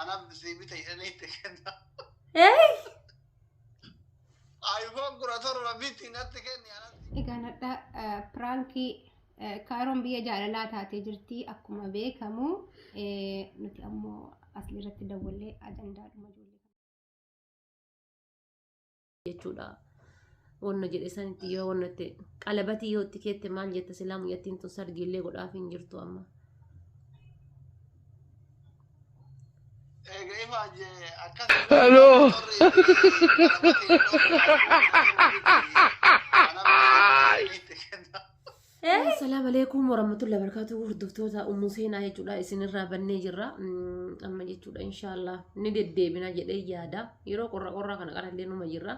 Anaaf bisee bita jedhanii itti kenna. Eey! Ayifoon kudha torba biti natti kenni anatti. Egaa nadha eh, piraankii eh, kaaroon biyya jaalalaa taatee jirti akkuma beekamu eh, nuti ammoo asirratti dawwallee ajandaadhuma ijoollee. jechuudha. Wanna jedhe sanitti yoo wanna itti qalabatii yoo itti keette maal jetta silaa mucattiin tun sargiillee godhaaf hin jirtu amma. Egaa ifa jee akkas Hello. Hello. Assalamu alaikum warahmatullahi wabarakatuh hordoftoota ummu seenaa jechuudha isinirraa bannee jirra amma jechuudha inshaallah ni deddeebina jedhee yaada yeroo qorra qorraa kana qarallee numa jirra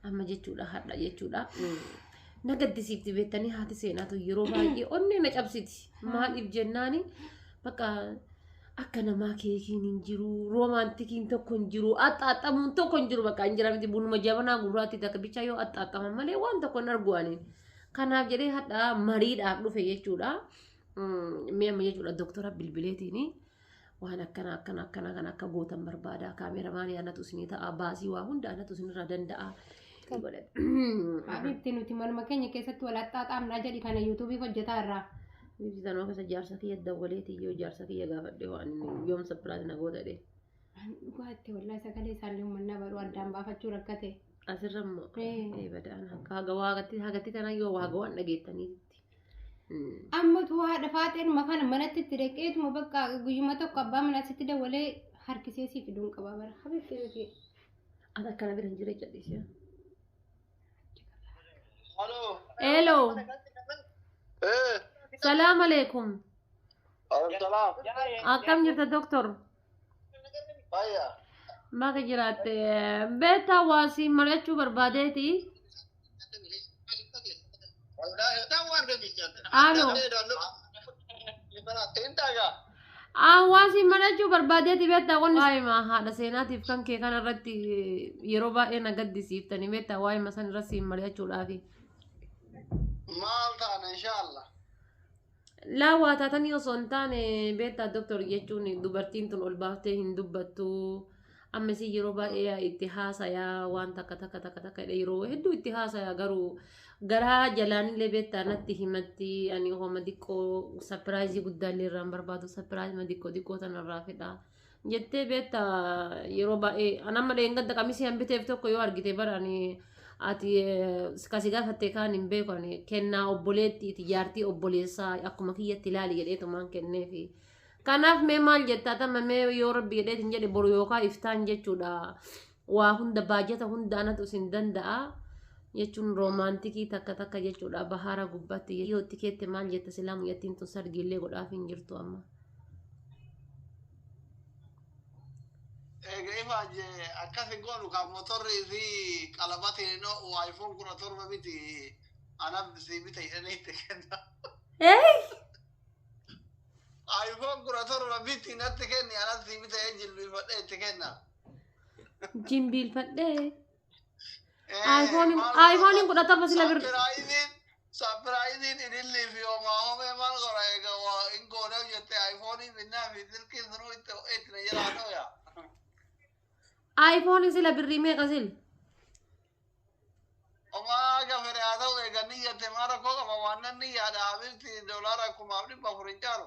amma jechuudha hadha jechuudha na gaddisiifti beektanii haati seenaatu yeroo baay'ee onnee na cabsiti maaliif jennaani bakka akka namaa keekiin hin jiru roomaantikiin tokko hin jiru axxaaxxamuun tokko hin jiru bakka hin jira miti bunuma jabanaa gurraatti takka bichaa yoo axxaaxxaman malee waan tokko hin arguu aniin. Kanaaf jedhee hadha mariidhaaf dhufe jechuudha. Mee amma jechuudha doktora bilbileetiin waan akkana akkana akkana kan akka gootan barbaada kaameramaan anatu isinii ta'a baasii waa hunda anatu isinirraa danda'a. Abitti nuti manuma keenya keessatti wal axxaaxaamnaa jedhi kana yuutuubii hojjetaa irraa. Ibsitanoo keessa jaarsa kiyya dawwaleeti yoo jaarsa kiyya gaafadhe waan yoom sappiraati na goota jedhee. Ani dhugaa itti wallaahi sagalee isaallee ummannaa baruu addaan baafachuu rakkate. Asirra immoo Ee. ee badaan akka haga waaqatti hagatti tana yoo waaga waan dhageettaniitti. Ammatu haadha faaxeenuma kana manatti itti dhaqeetuma bakka guyyuma tokko abbaa manaa sitti dawalee harkisee siif fiduun qaba bara. Habiibti nuti. Ati akkana bira hin jira jedhisiya. Hello. Eh, Salaam alaikum. Abdulsalam. Akkam jirta doktor? Fayya. Maka jiraatte. Beektaa waa siin mari'achuu barbaadeeti. Alo. Hawaasi marachuu barbaadeeti beektaa qonni waa'ima haadha seenaatiif kan kee kana irratti yeroo baay'ee na gaddisiiftanii beektaa waa'ima san irratti siin mari'achuudhaafi. Maal taana inshaallah. Laa waa taatanii osoo hin taane beektaa doktor jechuun dubartiin tun ol baaftee hin dubbattu. Amma isin yeroo baay'ee itti haasayaa waan takka takka takka takka jedhee yeroo hedduu itti haasayaa garuu garaa jalaanillee beektaa natti himatti ani hooma diqqoo sapiraayizii guddaallee irraan barbaadu sapiraayizii diqqoo diqqoo tanarraa fedhaa. jettee beekta yeroo baay'ee an amma dheengadda qamisii an biteef tokko yoo argite bara ani ati eh, kasi gaafatte kaan hin beeku ani kennaa obboleettiiti jaartii obboleessaa akkuma kiyyatti ilaali jedheetumaan kenneefi kanaaf mee maal jettaa tamma mee yoo rabbi jedheetiin jedhe boru yookaa iftaan jechuudha waa hunda baajata hunda anatu isin danda'a jechuun roomaantikii takka takka jechuudha bahaara gubbaatti yoo itti keette maal jetta silaa mucattiin tun sargiillee godhaaf hin jirtu amma. Egaa ifa jee akkas hin goonu kan motorri fi qalabatiin hin oo'u iPhone kudha torba miti anaf si bita jedhanii itti kenna. iPhone kudha torba miti natti kenni anaf si bita jilbiifadhee itti kenna. Jimbiilfadhee. Ayfooniin ayfooniin kudha torba sila birri. Sapiraayiziin sapiraayiziin ilillii fi homaa homee maal godha egaa waa hin goona jettee ayfoonii binnaa fi silkii sunuu itti itti na jalaa dhooya. Ayfooniin sila birrii meeqa sil? Homaa gafere haa ta'u egaa ni jette maal rakkoo qaba waan nan ni yaada habibti doolaara kumaaf dhibba afur hin caalu.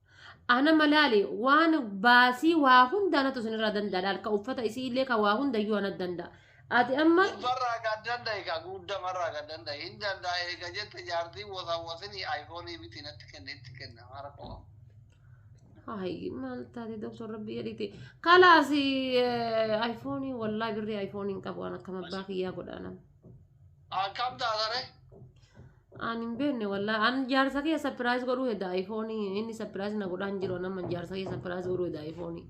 Ana malaali waan baasii waa hunda anatu isinirraa danda'a laal ka uffata isii illee ka waa hunda iyyuu anatu danda'a. Ati amma Gubbarraa kan danda'e ka guddamarraa kan danda'e hin danda'a eega jette jaartii wasawwasinii ayfoonii bitii natti kenne itti kenna mara koo. Ay, maal taate doktor rabbi jedhiti. Kalaasi ayfoonii wallaahi birrii ayfoonii hin qabu waan akkam abbaa kiyyaa godhaanam. Akkam taatare? Aan hin beekne wallaa. Aan jaarsa kee sapiraayis godhuu heda ayfoonii. Inni sapiraayis na godhaan jiru nama jaarsa kee sapiraayis godhuu heda ayfoonii.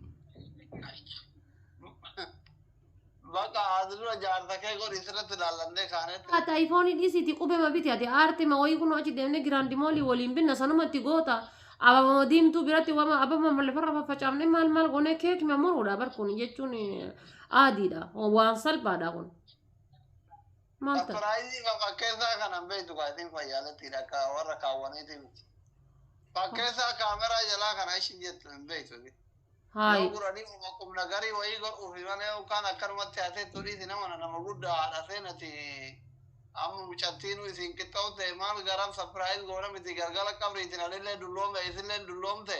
Baqa asirra jaarsa kee godhi sirratti ilaallannee kaanetti. Ati ayfoonii dhiisiiti qubema biti ati aarte ma wayii kunoo achi deemnee giraandi moolii waliin binna sanumatti goota. Ababama diimtuu biratti wama ababama lafarra faffacaafne maal maal goonee keekima muruudha bar kun jechuun aadiidha waan salphaadha kun. Maal ta'a? Sarpiraayizii kan fakkeessaa kana hin beektu kaa isin fayyaalattiidha akka warra kaawwaniiti miti. Fakkeessaa kaameraa jalaa kana ishin jettu hin beektu. Yoo Haayi. guranii uma qubna garii wayii godhuuf malee yookaan akkanumatti hatee turiiti nama na nama guddaa haadha seenati amma mucattiinuu isin qixxaa'u ta'e maal garam sapiraayiz goona miti galgala qabriitiin anillee dulloome isillee dulloomte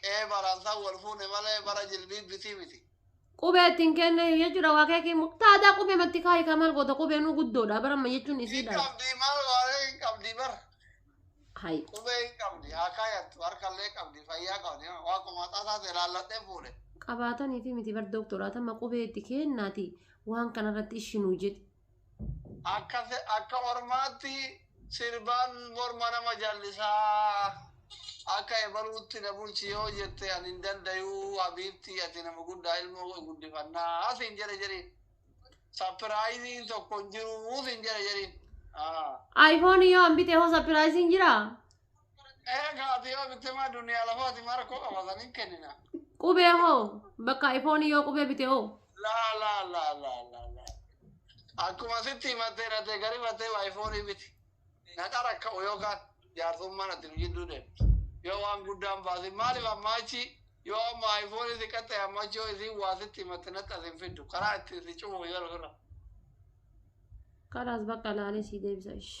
Qe'ee baraan san wal fuune malee bara jilbiibbitii miti. Qubee ittiin kenneef jechuudha waa keekii immoo taadaa qubee matti kaayi kaa maal goota qubee nuu guddoodha bara amma jechuun Hin isiidha. qabdi maal waaree hin qabdi bar. Hayi. Qubee hin qabdi haa kaayattu harkallee qabdi fayyaa qabdi waa qomaaxaa isaati ilaalladhee fuudhe. Qabaataniifi miti bar dooktoraa tamma qubee itti kennaati waan kanarratti ishinuu jedhi. Akka akka ormaatti sirbaan morma nama jallisaa akka ebaluutti na bulchi yoo jette ani hin dandayuu habiibtii ati nama guddaa ilmoo koo guddifannaa siin jedhe jedhi sapiraayiziin tokko hin jiruu siin jedhe jedhi. Ah. Ayfoonii yoo hambite hoo sapiraayiziin jiraa? Eega ati yoo bitte maa duniyaa lafaati maa rakkoo qaba san hin kennina. Qubee hoo bakka iPhone yoo qubee bite hoo. Laa laa laa laa laa laa. Akkuma sitti himattee dhattee gari battee waa ifoonii biti. Na dharakka'u yookaan jaarsummaan ati nu jidduu deemtu. Yoo waan guddaan baasin maaliif ammaa achi yoo amma ifoonii si qaxxee amma achi yoo isiin waa sitti himatte natti as hin fiddu karaa ittiin si cufu yoo ofirra. Kalaas bakka laalee sii deebisa ishi.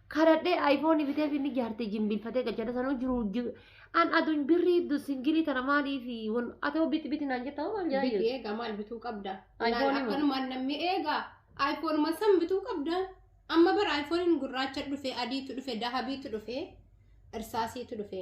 kadhadhee ayfoonii biteef inni jaartii jimbiilfatee gachana sanuu jiru jiru. An aduun birrii iddu singilii tana maaliif wal atoo biti biti naan jettaa waan Biki jaayyu. eegaa maal bituu qabda? iPhone Laal moo? akkanumaan namni eegaa. Ayfoonuma san bituu qabda. Amma bara ayfooniin gurraacha dhufe, adiitu dhufe, dahabiitu dhufe, irsaasiitu dhufe.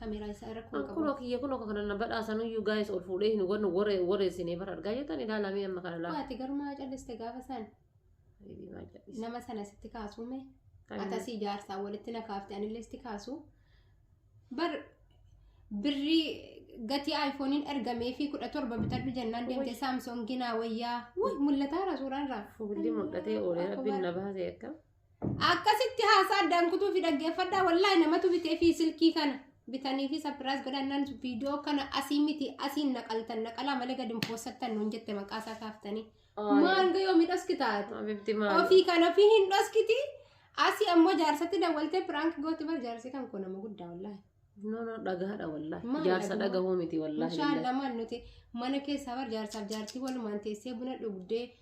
Kameeraa isaa irra kun qabu. Kunoo kiyya kunoo kana na badhaasanuyyuu gaa'is ol fuudhee hin wannu waree waree isinee bara argaa jettan ilaalaa mee amma kana laala. Waati garuu maa calliste gaafa san nama sana sitti kaasuu mee atasii jaarsaa walitti na kaafte anillee sitti kaasuu bar birrii gatii aayifooniin ergamee fi kudha torba bitadhu jennaan deemte saamsoonginaa wayyaa mul'ataara suuraan irraa. Fuulli mul'atee oolee rabbiin na baasee akka. akkasitti haasaa addaan kutuu fi dhaggeeffadhaa wallaahi namatu bitee fi silkii kana bitanii fi sapiraas godhannaan viidiyoo kana asii miti asiin naqaltan naqalaa malee gadi hin poosattan nuun jette maqaa isaa kaaftanii maal gayoo midhaski taatu Abibdi maal? ofii kan ofii hin dhoskiti asii ammoo jaarsatti dawwaltee piraank gooti bar jaarsi kan koo nama guddaa wallaahi No, no, dhagaadha wallahi. Maal Jaarsa dhagahu? dhagahuu miti wallahi. billahi. Inshallah maal nuti mana keessaa bar jaarsaaf jaartii walumaan teessee buna dhugdee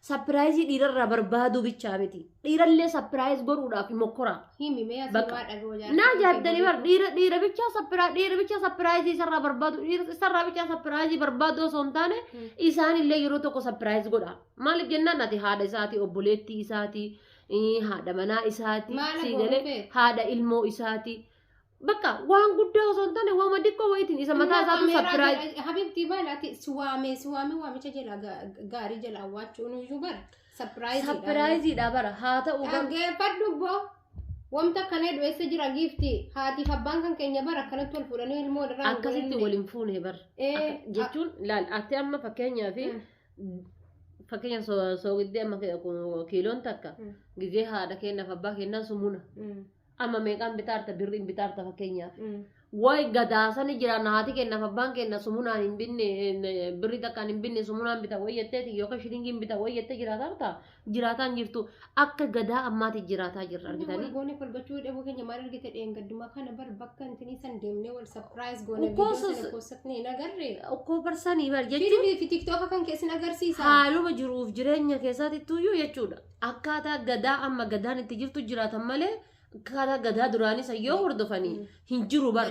Sapiraayizii dhiirarraa barbaaduu bichaa miti. Dhiirallee sapiraayiz godhuudhaaf mokkoraa. Himi mee asii Bakka. waa dhagoo jaartii. Naa jaaddanii bar dhiira dhiira bichaa sappiraa dhiira bichaa sapiraayizii isarraa barbaadu dhiira isarraa bichaa sapiraayizii barbaadu osoo hin taane Hmm. isaanillee yeroo tokko sapiraayiz godha. Maaliif jennaan ati haadha isaatii obboleettii isaatii ii, haadha manaa isaatii Maala sii godhu galee beeku? haadha ilmoo isaatii Bakka waan guddaa osoo hin taane waama xiqqoo wayitiin isa mataa isaatu sapiraayiz. Habibti maal ati si waamee si waamee waamicha jala ga- gaarii jala awwaachuun iyyuu bara sapiraayiz. Sapiraayiziidha bara haa ta'u garuu. Dhaggeeffadhu boo wanta kanee du'eessa jira giifti haatiif abbaan kan keenya bara akkanatti wal fuudhanii ilmoo irraa hin akkasitti godhanne. waliin fuune bar Ee, Akka- jechuun laal ati amma fakkeenyaa fi Mm. fakkeenya soogiddee amma ke- kun kiiloon takka Mm. gizee haadha keenyaaf abbaa keenyaa sumuna Mm. Amma meeqaan bitaarta birriin bitaarta fakkeenyaaf. Wayi gadaasani jira naati kennaaf abbaan kenna sumunaan hin binne eh, birrii takkaan hin binne sumunaan bita wayi jetteeti yookaan shilingiin bita wayi jettee jiraataa jirta jiraataan jirtu akka gadaa ammaati jiraataa jirra argitanii. Goone kolbachuu dhabuu keenya maal argite dheengadduma kana bar bakka intinii san deemnee wal sapiraayiz goone Of course, viidiyoo sana keessatti hin agarre. Okkoo barsanii bar jechuun Fiidibii fi tiktoka kan keessin agarsiisa. haaluma jiruuf jireenya keessatti tuyyuu jechuudha. akkaataa gadaa amma gadaan itti jirtu jiraatan malee akkaataa gadaa duraanii san yoo hordofanii hin jiru bara.